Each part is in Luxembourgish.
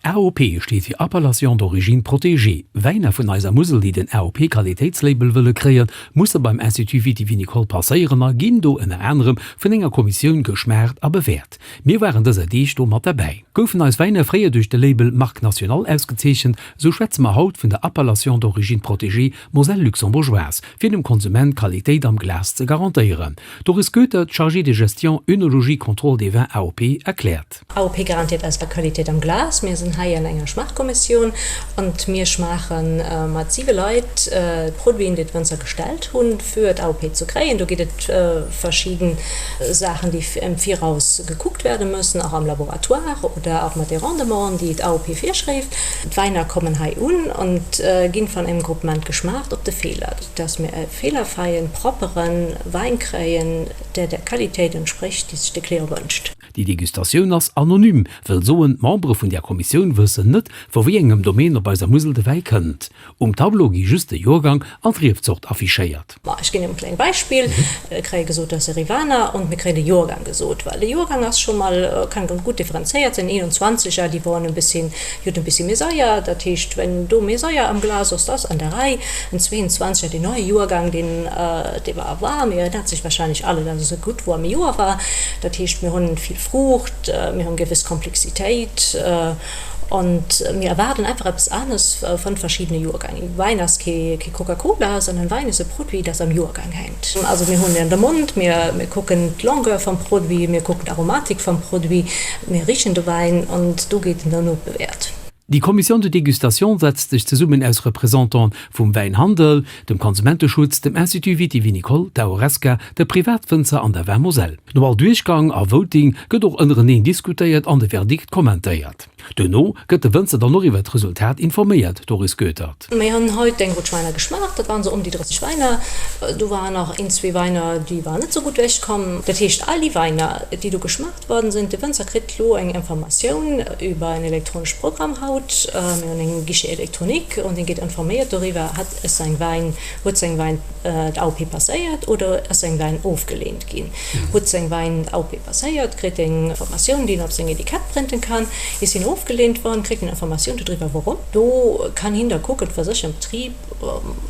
AOP steet fir Appellation d'origine protégée. Wäiner vun eiser Musel, déi den AOP-Qualitéitslabel wëlle kréien, musse beim Institut vitivinicole passéieren a ginn do ënner anerem vun enger Kommissioun geschmaacht a bewäert. Mir waren dëser Deeg do mat derbäi. Goufen eis Wäiner fréier duerch de Label Marque Nationale ausgezeechent, esou schwätze mer haut vun der Appellation d'origine protégée Moselle luxembourgeoise, fir dem Konsument Qualitéit am Glas ze garantéieren. Doris Goether, d'Chargée de gestion œnologie-contrôle des vins AOP, erkläert. AOP garantiert eis der Qualitéit am Glas. Mir sinn hei an enger Schmaachkommissioun an mir schmaache mat siwe Leit d'Produiten, déi d'Wënzer gestellt hunn, fir d'AOP ze kréien. Do ginn et verschidden Saachen, déi am Viraus gekuckt wäerte mussen, och am Laboratoire oder och mat de Rendementen, déi d'AOP virschréift. D'Wäiner kommen hei un a ginn vun engem Groupement geschmaacht op de Feeler, dass mir e feelerfräien, proppere Wäin kréien, dee der Qualitéit entsprécht, déi sech de Client wënscht. Déi Degustatioun ass anonym, wëll soen, d'Membere vun där Kommissioun wëssen net, vu wéi engem Domaine op eiser Musel de Wäi kënnt. Um Tableau gi just de Joergang an d'Riefzort affichéiert. Ma ech ginn iech e klengt Beispill, Mir kréie gesot, dass e Rivaner, und mir kréien de Joergang gesot. Well de Joergang ass scho mol, kann gutt differenzéiert sinn, 21 a déi waren e bëssi Jo, den Bissi Mesayer, dat heescht, wenn do Mesayer am Glas ass, da ass an der Rei en 22er, deen neie Joergang, deen et ewer erwar. Mir erinnert sech wahrscheinlech alle, dass ass e gutt woarme Joer war. Dat heescht, mir hunn vill Fruucht, mir hunn gewëss Komplexitéit an mir erwaarden einfach eppes anes vun verschiddene Joergäng. Wäin ass kee Coca-Cola, sondern Wäin ass e Produit, dat am Joergang hänkt. Also mir hunn en de Mond, mir kucken d'Longueur vum Produit, mir kucken d'Aromatik vum Produit, mir richen de Wäin an do gétt en dann nobewäert. Déi Commission de dégustation setzt sech zesummen aus Représentant vum Wäinhandel, dem Konsumenteschutz, dem Institut vitivinicole, der Horesca, de Privatwënzer an der Vin Moselle. No all Duerchgang a Voting gëtt och ënnereneen diskutéiert an de Verdikt kommentéiert. Duerno gëtt de Wënzer dann och iwwer d'Resultat informéiert, Doris Goethert. Mir hunn hei deng Rot Schwäiner geschmaacht. Dat waren sou ëm déi 30 Wäiner. Do waren nach een, zwee Wäiner, déi waren net sou gutt ewech komm. Dat heescht, all déi Wäiner, déi do geschmaacht worden sinn, de Wënzer kritt elo eng Informatioun iwwer en elektronesche Programm haut. Mir hunn e Guichet électronique an dee gétt informéiert doriwwer, hat säin Wäin, huet säin Wäin d'AOP passéiert oder ass säin Wäin ofgeleent ginn. Hutt seng Wäin au P passéiert, kritt eng Informatioun, déi en op seng Etikett prënten kann. Is hien ofgeleent wann, kritt en Informatioun dodriwwer wourom. Do kann hien da kucken fir sech am Betrib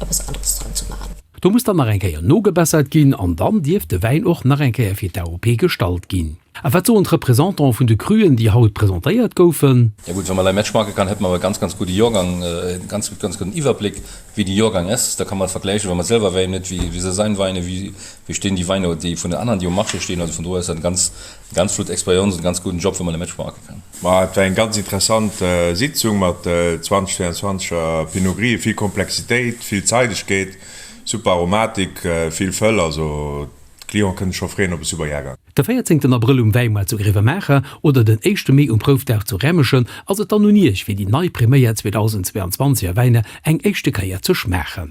eppes aneres dran ze man. Do muss dann nach eng Kéier nogebessert ginn an dann dierf de Wäin och nach eng Kéier fir d'AOP gestallt ginn. A wat soen d'Representanten vun de Cruen, déi haut presentéiert goufen? Jo gutt, wann mer lei Mätsch maache kann, hätte mer e ganz, ganz gudde Jorgang, e ganz, ganz gudden Iwwerbléck wéi de Jorgang ass. Da kann mer et vergläichen, wa mer selwer Wäin huet, wéi wéi se sein Wein, wéi Mir steen déi Weiner déi vun den aneren déi um Marché steen, also vun do ass dat ganz ganz flott Experience an e ganz gudden Job wou mer de Match maache kann. Ma et war eng ganz interessant Sitzung mat 20, 24 er Pinot Gris, vill Komplexitéit, vill Zeidegkeet, super Aromatik, vill Fëll, also d'Clienten kënne scho freeën op e super Jahrgang. De véierzéngten Abrëll um Wäimaart zu Gréwemaacher oder den éischte Mee um Proufdag zu Rämeschen ass et dann un Iech fir déi nei Prim'Eia 2022 er Wäiner eng éischte Kéier ze schmaachen.